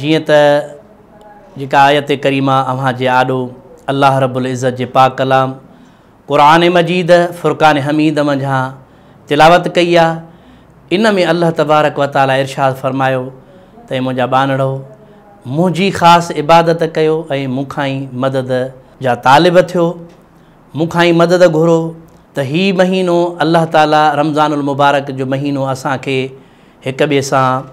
جيئن ته جيڪا آيت ڪريمه اوهان جي آڏو الله رب العزت جي پاڪ ڪلام قرآن مجيد فرقان حميد منجهان تلاوت ڪئي آ ان ۾ الله تبارڪ و تعالي ارشاد فرمايو ته اي منهنجا ٻانڙو منهنجي خاص عبادت ڪيو ۽ مون کان ئي مدد جا طالب ٿيو مون کان ئي مدد گهرو ته هي مهينو الله تعالي رمضان المبارڪ جو مهينو اسان کي هڪ ٻئي سان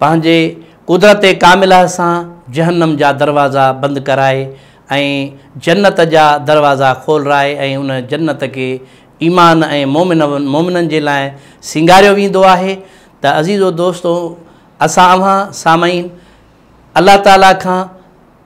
پنهنجي قدرت ڪامله سان جهنم جا دروازا بند ڪرائي ۽ جنت جا دروازا کولرائي ۽ ان جنت کي ايمان ۽ مؤمنن جي لاء سينگاريو ويندو آهي ته عزيزو دوستو اسان اوهان سامعين الله تعالي کان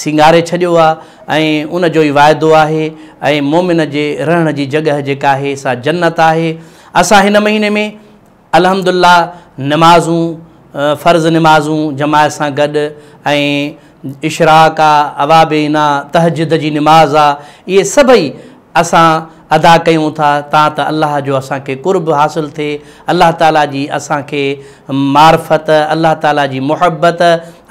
سينگاري ڇڏيو آ ۽ ان جو ئي واعدو آهي ۽ مؤمن جي رهڻ جي جڳهه جيڪا آهي سا جنت آهي اسان هن مهيني ۾ الحمد الله نمازون فرض نمازون جماعت سان گڏ ۽ اشراق آ اوابين آ تهجد جي نماز آ اهي سڀئي اسان ادا ڪيون ٿا تان ته الله جو اسان کي قرب حاصل ٿئي، الله تعاليٰ جي اسان کي معرفت، الله تعاليٰ جي محبت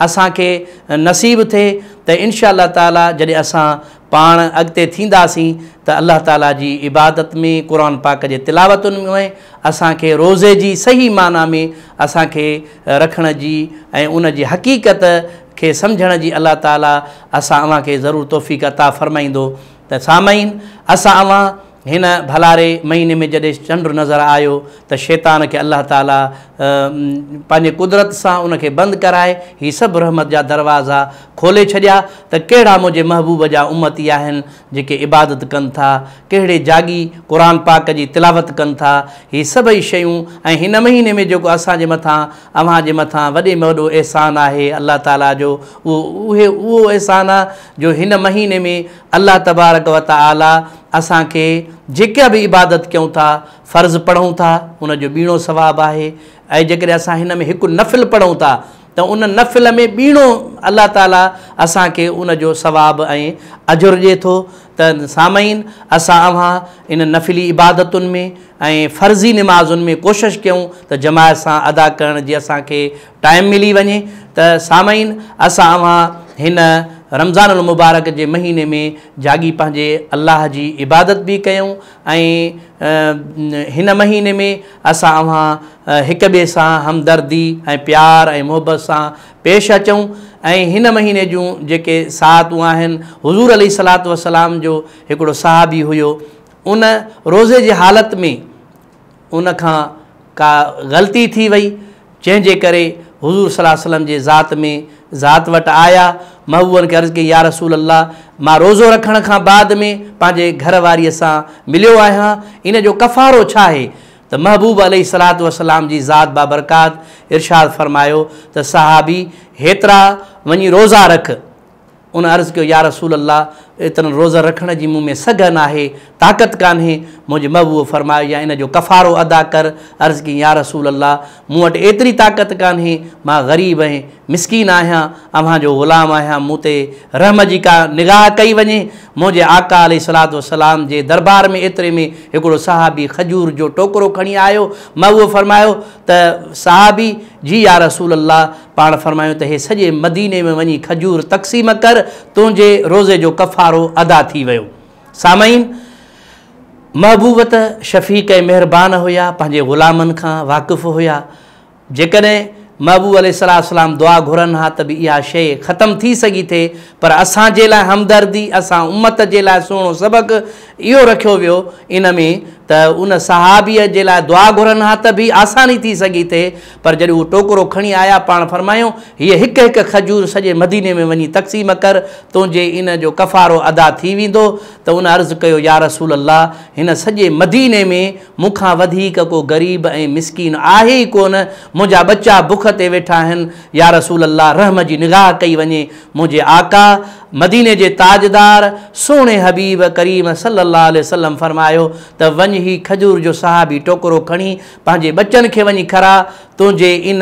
اسان کي نصيب ٿئي ته انشاء الله تعاليٰ جڏهن اسان پاڻ اڳتي ٿينداسين ته الله تعاليٰ جي عبادت ۾، قرآن پاڪ جي تلاوتن ۾، اسان کي روزي جي صحيح معنيٰ ۾ اسان کي رکڻ جي ۽ ان جي حقيقت کي سمجهڻ جي الله تعاليٰ اسان اوهان کي ضرور توفيق عطا فرمائيندو. ته سامعين! اسان اوهان، هن، ڀلاري، مهيني ۾ جڏهن چنڊ نظر آيو ته شيطان کي الله تعاليٰ پنهنجي قدرت سان ان کي بند ڪرائي هي سڀ رحمت جا دروازا کولي ڇڏيا ته ڪهڙا منهنجي محبوب جا امتي آهن جيڪي عبادت ڪن ٿا، ڪهڙي جاڳي قرآن پاڪ جي تلاوت ڪن ٿا، هي سڀئي شيون ۽ هن مهيني ۾ جيڪو اسان جي مٿان اوهان جي مٿان وڏي ۾ وڏو احسان آهي الله تعاليٰ جو اهو اهو اهو احسان آ. جو هن مهيني ۾ الله تبارڪ و تعالي اسان کي جيڪا به عبادت ڪيون ٿا، فرض پڙهون ٿا، ان جو ٻيڻو ثواب آهي ۽ جيڪڏهن اسان هن ۾ هڪ نفل پڙهون ٿا ته ان نفل ۾ ٻيڻو الله تعالي اسان کي ان جو ثواب ۽ اجر ڏئي ٿو ته سامعين اسان اوهان ان نفلي عبادتن ۾ ۽ فرضي نمازن ۾ ڪوشش ڪيون ته جماعت سان ادا ڪرڻ جي اسان کي ٽائيم ملي وڃي ته سامعين اسان اوهان هن رمضان المبارڪ جي مهيني ۾ جاڳي پنهنجي الله جي عبادت به ڪيون ۽ هن مهيني ۾ اسان اوهان هڪ ٻئي سان همدردي ۽ پيار ۽ محبت سان پيش اچون ۽ هن مهيني جون جيڪي ساعتون آهن حضور عليه الصلاة والسلام جو هڪڙو صحابي هيو ان روزي جي حالت ۾ ان کان ڪا غلطي ٿي وئي، جنهن جي ڪري حضور صلعم وسلم جي ذات ۾ ذات وٽ آيا، محبوبن کي عرض ڪئي، يارسول الله! مان روزو رکڻ کان بعد ۾ پنهنجي گهر واريء سان مليو آهيان، ان جو ڪفارو ڇا آهي؟ ته محبوب عليه الصلعة والسلام جي ذات بابرڪات ارشاد فرمايو ته صحابي! هيترا وڃي روزا رک. ان عرض ڪيو، يا رسول الله! ايترن روزن رکڻ جي مون ۾ سگهه ناهي، طاقت ڪانهي. منهنجي محبوب فرمايو، يا ان جو ڪفارو ادا ڪر. عرض ڪيائين، يا رسول الله! مون وٽ ايتري طاقت ڪانهي، مان غريب ۽ مسڪين آهيان، اوهان جو غلام آهيان، مون تي رحم جي ڪا نگاهه ڪئي وڃي. منهنجي آقا عليه الصلوة والسلام جي دربار ۾ ايتري ۾ هڪڙو صحابي کجور جو ٽوڪرو کڻي آيو. محبوب فرمايو ته صحابي، جي يا رسول الله! پاڻ فرمايو ته هي سڄي مديني ۾ وڃي کجور تقسيم ڪر تنهنجي روزي جو ڪفارو ادا ٿي ويو. سامعين! محبوب ته شفيق ۽ مهربان هيا پنهنجي غلامن کان واقف هيا جيڪڏهن محبوب عليه الصلوة والسلام دعا گهرن ها ته به اها شيء ختم ٿي سگهي ٿي پر اسان جي لاء همدردي اسان امت جي لاء سهڻو سبق اهو رکيو ويو ان ۾ ته ان صحابيء جي لاء دعا گهرن ها ته به آساني ٿي سگهي ٿي پر جڏهن هو ٽوڪرو کڻي آيا، پاڻ فرمايائون، هيء هڪ هڪ کجور سڄي مديني ۾ وڃي تقسيم ڪر، تنهنجي ان جو ڪفارو ادا ٿي ويندو، ته ان عرض ڪيو، يارسول الله! هن سڄي مديني ۾ مون کان وڌيڪ ڪو غريب ۽ مسڪين آهي ئي ڪونه، منهنجا ٻچا بک تي ويٺا آهن، يارسول الله! رحم جي نگاهه ڪئي وڃي، منهنجي آقا، مديني جي تاجدار، سهڻي حبيب ڪريم صلّي اللّٰه عليه وسلّم فرمايو ته وڃ هي کجور جو صحابي ٽوڪرو کڻي پنهنجي ٻچن کي وڃي کاراء، تنهنجي ان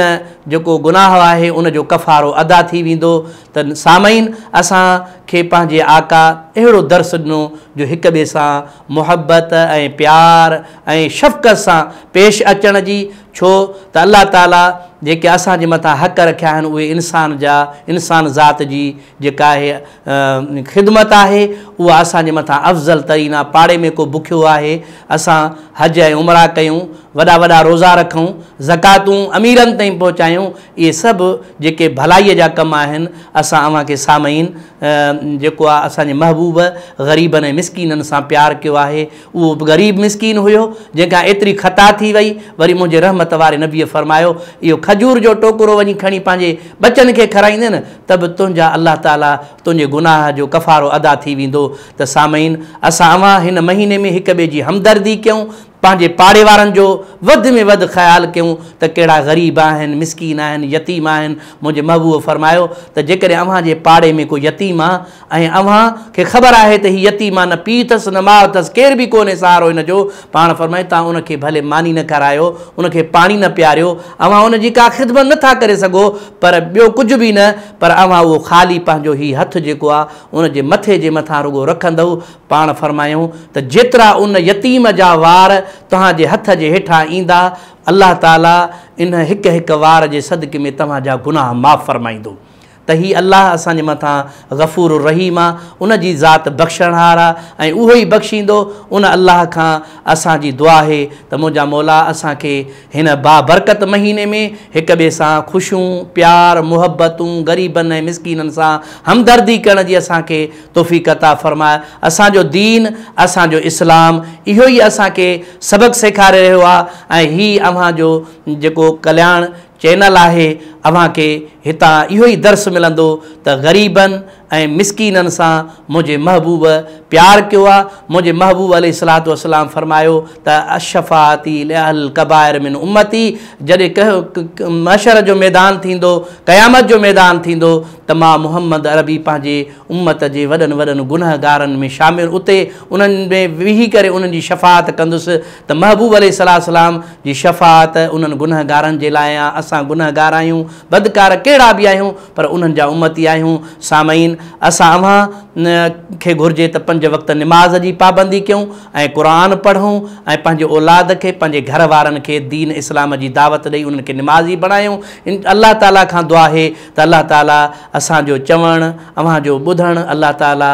جيڪو گناهه آهي ان جو ڪفارو ادا ٿي ويندو ته سامعين اسان کي پنهنجي آقا اهڙو درس ڏنو جو هڪ ٻئي سان محبت ۽ پيار ۽ شفقت سان پيش اچڻ جي ڇو ته الله تعالي جيڪي اسان جي مٿان حق رکيا آهن اهي انسان جا انسان ذات جي جيڪا هيء خدمت آهي، اها اسان جي مٿان افضل ترين آهي. پاڙي ۾ ڪو بکيو آهي، اسان حج ۽ عمرا ڪيون، وڏا وڏا روزا رکون، زڪواتون اميرن تائين پهچايون، اهي سڀ جيڪي ڀلائيء جا ڪم آهن، اسان اوهان کي سامعين! جيڪو آ اسان جي محبوب غريبن ۽ مسڪينن سان پيار ڪيو آهي، اهو به غريب مسڪين هيو، جنهن کان ايتري خطا ٿي وئي. وري منهنجي رحمت واري نبيء فرمايو، اهو کجور جو ٽوڪرو وڃي کڻي پنهنجي ٻچن کي کارائيندين ته به تنهنجا الله تعاليٰ تنهنجي گناهه جو ڪفارو ادا ٿي ويندو. ته سامعين! اسان اوهان هن مهيني ۾ هڪ ٻئي جي همدردي ڪيون، پنهنجي پاڙي وارن جو وڌ ۾ وڌ خيال ڪيون ته ڪهڙا غريب آهن، مسڪين آهن، يتيم آهن. منهنجي محبوب فرمايو ته جيڪڏهن اوهان جي پاڙي ۾ ڪو يتيم آ ۽ اوهان کي خبر آهي ته هي يتيم آ، نه پيء اٿس نه ماء اٿس، ڪير به ڪونهي سهارو هن جو، پاڻ فرمائي، توهان ان کي ڀلي ماني نه کارايو، ان کي پاڻي نه پياريو، اوهان ان جي ڪا خدمت نه ٿا ڪري سگهو، پر ٻيو ڪجهه به نه، پر اوهان اهو خالي پنهنجو هي هٿ جيڪو آ، ان جي مٿي جي مٿان رڳو رکندؤ، پاڻ فرمايائون ته جيترا ان يتيم جا وار توهان جي هٿ جي هيٺان ايندا، الله تعالي ان هڪ هڪ وار جي صدقي ۾ توهان جا گناهه معاف فرمائيندو. ته هي الله اسان جي مٿان غفور الرحيم آ، ان جي ذات بخشڻهار آ ۽ اهو ئي بخشيندو، ان الله کان اسان جي دعا آهي ته منهنجا مولا اسان کي هن بابرڪت مهيني ۾ هڪ ٻئي سان خوشيون، پيار، محبتون، غريبن ۽ مسڪينن سان همدردي ڪرڻ جي اسان کي توفيق عطا فرماء، اسان جو دين، اسان جو اسلام اهو ئي اسان کي سبق سيکاري رهيو آ ۽ هي اوهان جو جيڪو ڪلياڻ، چينل آهي اوهان کي هتان اهو ئي درس ملندو ته غريبن ۽ مسڪينن سان منهنجي محبوب پيار ڪيو آ منهنجي محبوب عليه الصلوة والسلام فرمايو ته الشفاعتي لاهل الڪبائر من امتي جڏهن ڪه محشر جو ميدان ٿيندو قيامت جو ميدان ٿيندو ته مان محمد عربي پنهنجي امت جي وڏن وڏن گنهگارن ۾ شامل اتي انهن ۾ ويهي ڪري انهن جي شفاعت ڪندس ته محبوب عليه السلام جي شفاعت انهن گنهگارن جي لاء آ، اسان گنهگار آهيون، بدڪار ڪهڙا به آهيون پر انهن جا امتي آهيون. سامعين! اسان اوهان کي گهرجي ته پنج وقت نماز جي پابندي ڪيون ۽ قرآن پڙهون ۽ پنهنجي اولاد کي پنهنجي گهر وارن کي دين اسلام جي دعوت ڏئي انهن کي نمازي بڻايون. الله تعاليٰ کان دعا آهي ته الله تعاليٰ اسان جو چوڻ، اوهان جو ٻڌڻ الله تعاليٰ.